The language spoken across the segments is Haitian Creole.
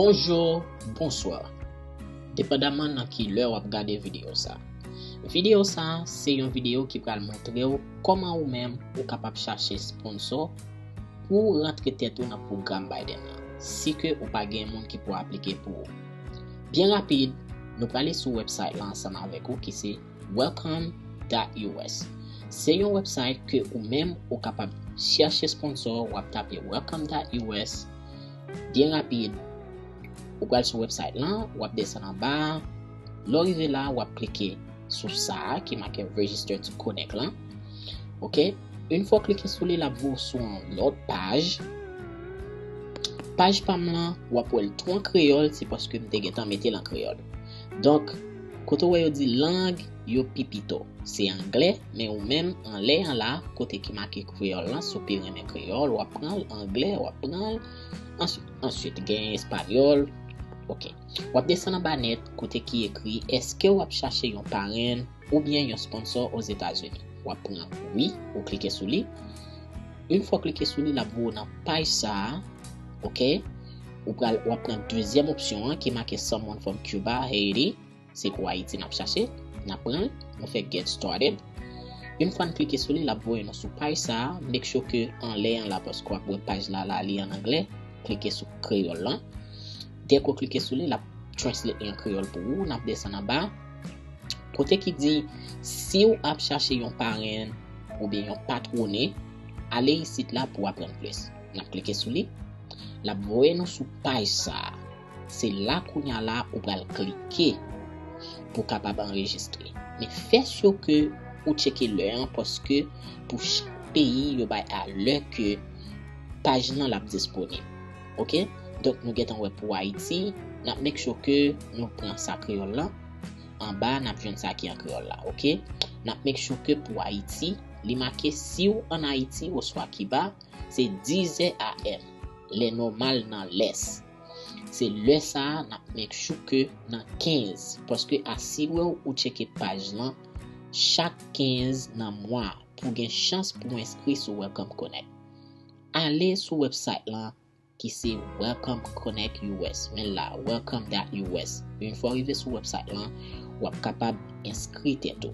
Bonjour, bonsoir Depandaman nan ki lè wap gade video sa Video sa se yon video ki pral montrew koman ou menm ou kapab chache sponsor Pou w rantre tèt ou nan pwogram Biden lan, si ke ou pa gen moun ki pou aplike pou ou. Byen rapid, nou prale sou website lan ansanm avèk ou ki se Welcome dot us. Se yon website ke ou menm ou kapab chèche sponsò, wap tape Welcome dot us, byen rapid, ou pral sou website lan, wap desann anba a, lè w rive la wap klike sou sa a ki make Register to Connect lan, ok. Une fwa w klike sou li lap voye w sou yon lòt paj, paj pam lan wap wè l tou an kreyòl se paske m te gentan mete l an kreyòl donk kote w wè yo di lang yo pi pito se anglè men ou menm anlè an la kote ki make kreyòl lan si w pi renmen kreyòl wap pran l anglè wap pran l answit gen espanyòl ok wap desann anba nèt kote ki ekri èske wap chache yon parenn Oubyen yon sponsor Ozetazini. Wap pran wi, ou klike sou li. Une fwa ou klike sou li lap voye w nan paj sa a. Ok. Ou pral wap pran dezyèm opsyon an ki make someone from Cuba, Haiti. Se pou Ayiti nap chache. Nap pran l. Nou fè get started. Une fwa n klike sou li lap voye nou sou paj sa a. Make sure ke anlè an la paske wap wè paj la la li an anglè. Klike sou kreyòl lan. Dèke ou klike sou li, l ap translate li an kreyòl pou ou. N ap desann anba. Kote ki di, si ou ap chache yon parenn oubyen yon patwone, ale isit la pou aprann plis. N ap klike sou li. L ap voye nou sou paj sa a. Se la kounya la ou pral klike pou w kapab anrejistre. Men fè syo ke ou tcheke lè an paske pou chak peyi yo bay a lè ke paj nan l ap disponib. Ok donk nou gentan wè pou ayiti nap make sure ke nou pran sa kreyòl lan anba nap jwenn sa ki an kreyòl la ok nap make sure ke pou ayiti li make siw an ayiti oswa kiba se 10 zè AM lè nòmal nan lès se lè sa nap make sure ke nan 15 paske asirew ou tcheke paj lan chak 15 nan mwa pou gen chans pou enskri sou welcome connect. Ale sou website lan ki se Welcome Connect US, men l la Welcome dot US. Yon fwa w rive sou website lan, w ap kapab enskri tèt ou.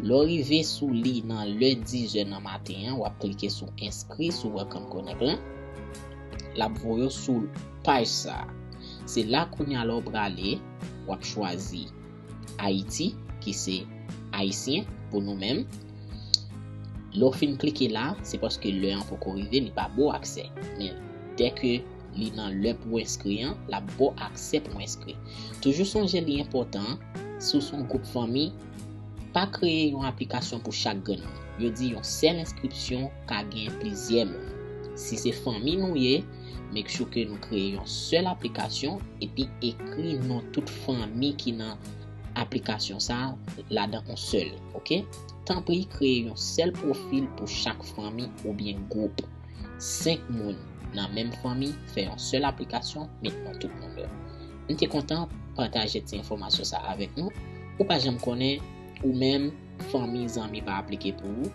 Lè w rive sou li nan lè 10 zè nan maten an, w ap klike sou enskri sou Welcome Connect lan. L ap voye w sou paj sa a. Se la kounya lè w prale, w ap chwazi. Ayiti ki se Ayisyen pou nou menm. Lè w fin klike la, se paske lè an poko rive, li pa ba w aksè. Men, dè ke li nan lè pou w enskri an, l ap ba w aksè pou w enskri. Toujou sonje li enpòtan, si w se yon gwoup fanmi, pa kreye yon aplikasyon pou chak grenn moun. Yo di yon sèl enskripsyon ka gen plizyè moun. Si se fanmi nou ye, Make sure ke nou kreye yon sèl aplikasyon epi ekri non tout fanmi ki nan aplikasyon sa ladan on sèl, ok. Tanpri kreye yon sèl pwofil pou chak fanmi oubyen gwoup. 5 moun nan menm fanmi fè yon sèl aplikasyon met non tout moun yo. M te kontan pataje ti enfòmasyon sa avèk nou. Ou pa janm konnen ou menm fanmi zanmi pa aplike pou ou.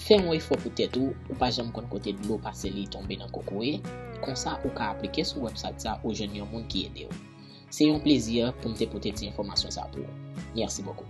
Fè yon efò pou tèt ou, ou pa janm konn kote dlo pase li tonbe nan kokoye, konsa ou ka aplike sou website sa ou jwenn yon moun ki edew. Se yon plezi poum te pote ti enfòmasyon sa pou ou. Merci beaucoup.